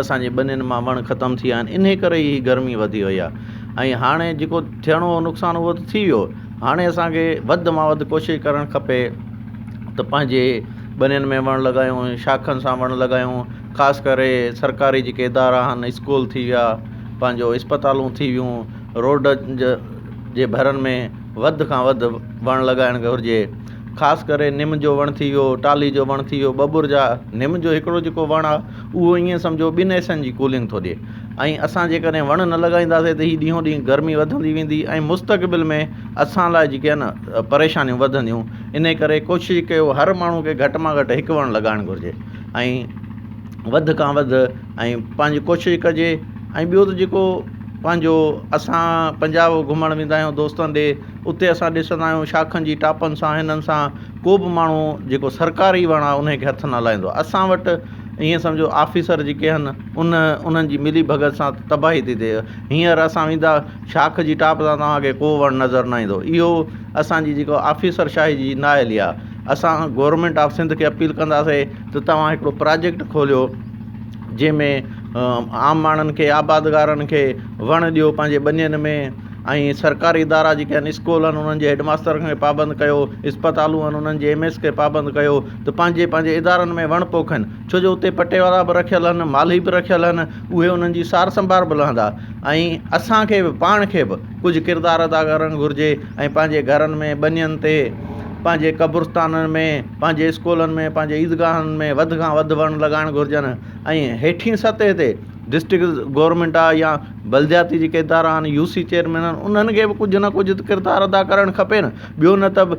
اسان جي ٻنين مان وڻ ختم ٿي ويا آهن انهي ڪري هي گرمي وڌي وئي آهي ۽ هاڻي جيڪو ٿيڻو هو نقصان اهو ته ٿي ويو هاڻي اسان کي وڌ مان وڌ ڪوشش ڪرڻ کپي ته پنهنجي ٻنين ۾ وڻ لڳايون شاخن سان وڻ لڳايون خاص ڪري سرڪاري جيڪي ادارا آهن اسڪول ٿي ويا پنهنجو اسپتالون ٿي ويون روڊ ج جي ڀرن ۾ وڌ کان وڌ وڻ لڳائڻ گهرجي خاص ڪري نم جو وڻ ٿي ويو ٽالهي جو وڻ ٿي ويو ٻٻر جا نم جو هڪڙو جيڪو وڻ آهي اهو ائين سمجهو ٻن ايسين جي ڪولنگ ٿو ڏئي ۽ اسان جيڪڏهن وڻ نه لڳائينداسين ته هي ڏينهون ڏينهن گرمي وڌندي ويندي ۽ مستقبل ۾ اسان لاء جيڪي آهي نه پريشانيون وڌنديون انهي ڪري ڪوشش ڪيو هر ماڻهو کي گهٽ مان گهٽ هڪ وڻ لڳائڻ گهرجي ۽ وڌ کان وڌ ۽ پنهنجي ڪوشش ڪجي ۽ ٻيو ته جيڪو پنهنجو اسان پنجاب گهمڻ ويندا آهيون دوستن ڏي اتي اسان ڏسندا آهيون شاخن جي ٽاپن سان هنن سان ڪو بھ ماڻهو جيڪو سرڪاري وڻ آهي انهي کي هٿ نه لائيندو آهي اسان وٽ ائين سمجهو آفيسر جيڪي آهن ان انهن جي ملي ڀڳت سان تباهي ٿي ٿئي هينئر اسان ويندا شاخ جي ٽاپ تان توهانکي ڪو وڻ نظر نه ايندو اهو اسانجي جيڪو آفيسر شاهي جي نا اهلي آهي اسان گورمينٽ آف سنڌ کي اپيل ڪنداسي ته توهان هڪڙو پراجيڪٽ کوليو جنهن ۾ عام ماڻهن کي آبادگارن کي وڻ ڏيو پنهنجي ٻنين ۾ ۽ سرڪاري ادارا جيڪي آهن اسڪول آهن انهن جي هيڊماستر کي پابند ڪيو اسپتالون آهن انهن جي ايم ايس کي پابند ڪيو ته پنهنجي پنهنجي ادارن ۾ وڻ پوکين ڇو جو اتي پٽي وارا به رکيل آهن مالهي به رکيل آهن اهي انهن جي سار سنڀار به لهندا ۽ اسانکي به پاڻ کي به ڪجهه ڪردار ادا ڪرڻ گهرجي ۽ پنهنجي گهرن ۾ ٻنين تي پنهنجي قبرستانن ۾ پنهنجي اسڪولن ۾ پنهنجي عيدگاهن ۾ وڌ کان وڌ وڻ لڳائڻ گهرجن ۽ هيٺين سطح تي ڊسٽرڪ گورنمينٽ آهي يا بلدياتي جيڪي ادارا آهن يو سي چيئرمين آهن انهن کي به ڪجهه نه ڪجهه ڪردار ادا ڪرڻ کپي نه ٻيو نه ته